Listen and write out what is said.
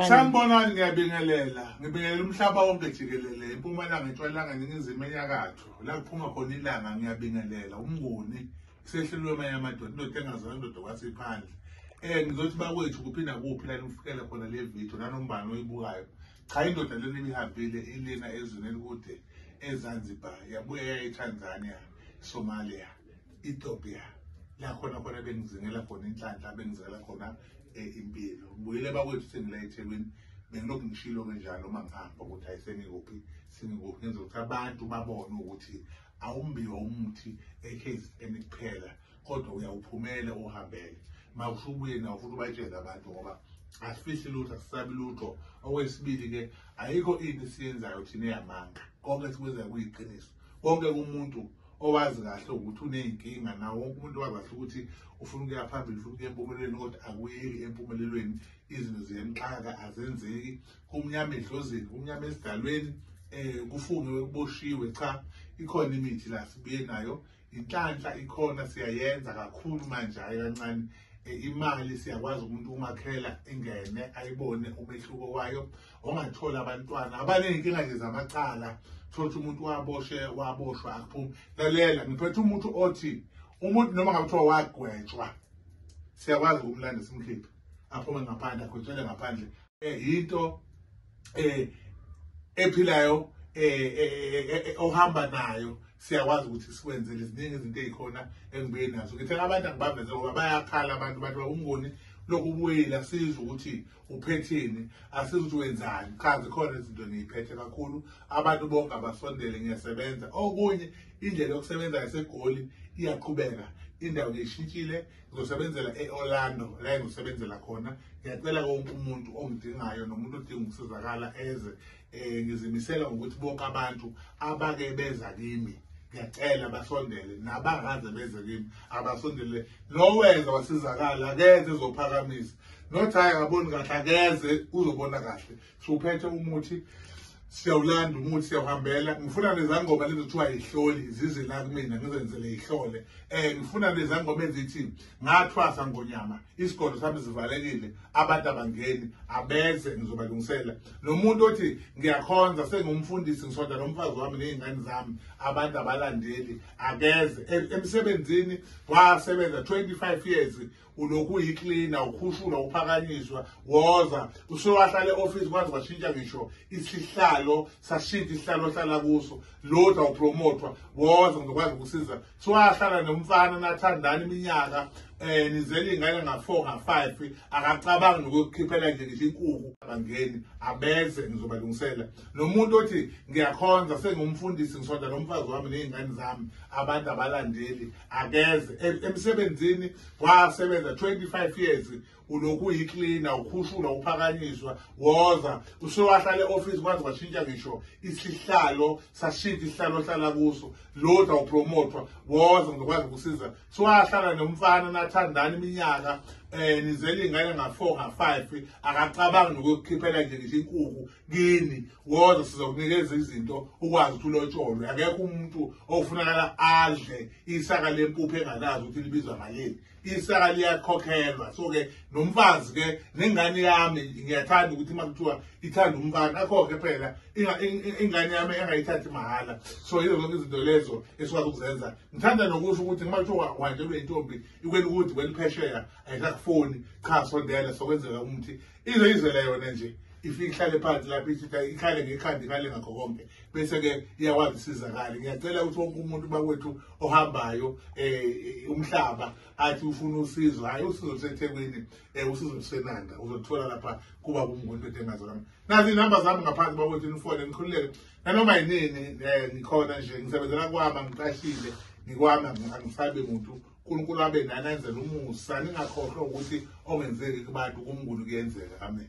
Sanibonani ngiyabingelela ngibingelela umhlaba wonke jikelele impumalanga entshwalanga ningizimu enyakatho la kuphuma khona ilanga ngiyabingelela umnguni sehlelwe amanye amadoda indoda engazana indoda kwasiphandle eh ngizothi bakwethu kuphi nakuphi la nifikela khona le video nanombani oyibukayo cha indoda lena ibihambile ilina ezweni elikude ezanzibar yabuya etanzania somalia Ethiopia la khona khona bengizingela khona inhlanhla bengizela khona eh, impilo ngibuyile bakwethu sengila eThekwini bengilokhu ngishilo ke njalo uma ngihamba ukuthi hayi sengikuphi sengikuphi ngenza ukuthi abantu babone ukuthi awumbiwa umuthi eKZN kuphela kodwa uyawuphumele uhambele mawusho ubuye nawo futhi ubatshele abantu ngoba asifihli lutho asisabi lutho okwesibili-ke ayikho into esiyenzayo thina eyamanga konke sikwenzayo kuyiqiniso konke kumuntu owazi kahle ukuthi uney'nkinga nawo wonke umuntu wazi kahle ukuthi ufuna ukuya phambili ufuna ukuya empumelelweni kodwa akuyeki empumelelweni izinto ziyemxaka azenzeki kumnyama edlozini kumnyama esidalweni um kufungiwe kuboshiwe cha ikhona imithi la sibuye nayo inhlanhla ikhona siyayenza kakhulu manje hhayi kancane eh, imali siyakwazi umuntu umakhela ingene ayibone umehluko wayo ongathola abantwana abaney'nkinga nje zamacala thotha umuntu waboshe waboshwa akuphumi lalela ngiphethe umuntu othi umuntu noma ngabe kuthiwa wagwetshwa siyakwazi ukumlanda simkhiphe aphume ngaphandle agwetshele ngaphandle um yinto um ephilayo um ohamba nayo siyakwazi ukuthi sikwenzele ziningi izinto ey'khona engibuye nazo ngithe abantu angibaveze ngoba bayakhala abantu bathi umngoni lokhu ubuyile asizwe ukuthi uphetheni asizi ukuthi wenzani cha zikhona izinto ngiyiphethe kakhulu abantu bonke abasondele ngiyasebenza okunye indlela yokusebenza yasegoli iyaqhubeka indawo ngiyishintshile ngizosebenzela e-orlando la engizosebenzela khona ngiyacela konke umuntu ongidingayo nomuntu odinga ukusizakala eze Eh ngizimisela ngokuthi bonke abantu abake beza kimi ngiyacela basondele nabakaze beze kimi abasondele nowenza wasizakala akeze ezophakamisa not hayi akaboni kahle akeze uzobona kahle siwuphethe umuthi siyawulanda umuthi siyawuhambela ngifuna nezangoma lezi kuthiwa yihloli zize la kumina ngizenzele yihlole um ngifuna nezangoma ezithi ngathwasa ngonyama isigodlo sami sivalekile abantu abangeni abeze ngizobalungisela nomuntu othi ngiyakhonza sengumfundisi ngisonda nomfazi wami nezingane zami abantu abalandeli akeze e, emsebenzini wasebenza 25 years ulokhu uyiklina ukhushula uphakanyiswa woza usewahlale office kwaze washintsha ngisho isihlalo sashintsha isihlalo ohlala kuso lodwa upromothwa woza ngizokwazi ukusiza kuthiwa ahlala nomfana nathandana iminyaka um eh, nizela iy'ngane nga-four nga-five akacabangi nokukhiphela nje ngisho inkuku abangeni abeze ngizobalungisela nomuntu othi ngiyakhonza sengumfundisi ngisonda nomfazi wami ney'ngane zami abantu abalandeli akeze emsebenzini wasebenza twenty-five years ulokhu uyiklina ukhushula uphakanyiswa woza usewahlale office kwaze washintsha ngisho isihlalo sashintsha isihlalo ohlala kuso loda upromotwa woza ngizokwazi ukusiza siwahlala nomfana nathandana iminyaka eh nizele ingane nga4 nga5 akacabangi nokukhiphela nje ngisho inkuku kini woza sizokunikeza izinto ukwazi ukuthi ulotsholwe akekho umuntu ofunakala adle isaka lempuphu engalazi ukuthi libizwa malini isaka liyakhokhelwa so ke nomfazi ke nengane yami ngiyathanda ukuthi uma kuthiwa ithanda umfana akhokhe phela ingane yami engayithathi mahhala so yizo zonke izinto lezo esikwazi ukuzenza ngithanda nokusho ukuthi uma kuthiwa uhanjelwe intombi ikweli ukuthi kweliphesheya ayisakufoni cha sondela sokwenzeka umuthi izoyizwela yona nje ifike ihlale phansi lapho ithitha ikhale ngekhanda ikhale ngakho konke bese-ke iyakwazi usizakale ngiyacela ukuthi wonke umuntu bakwethu ohambayo um umhlaba athi ufuna usizo hhayi usizo lusethekwini um usizo lusenanda uzoluthola lapha kuba kumngondoda engazolama nazi inamba zami ngaphansi bakwethu nifone nikhululeke nanoma yinini um ngikhona nje ngisebenzela kwami angiqashile ngikwami angisabi muntu uNkulunkulu abe nani enzela umusa ningakhohlwa ukuthi ongenzeki kubantu kumnguni kuyenzeka amen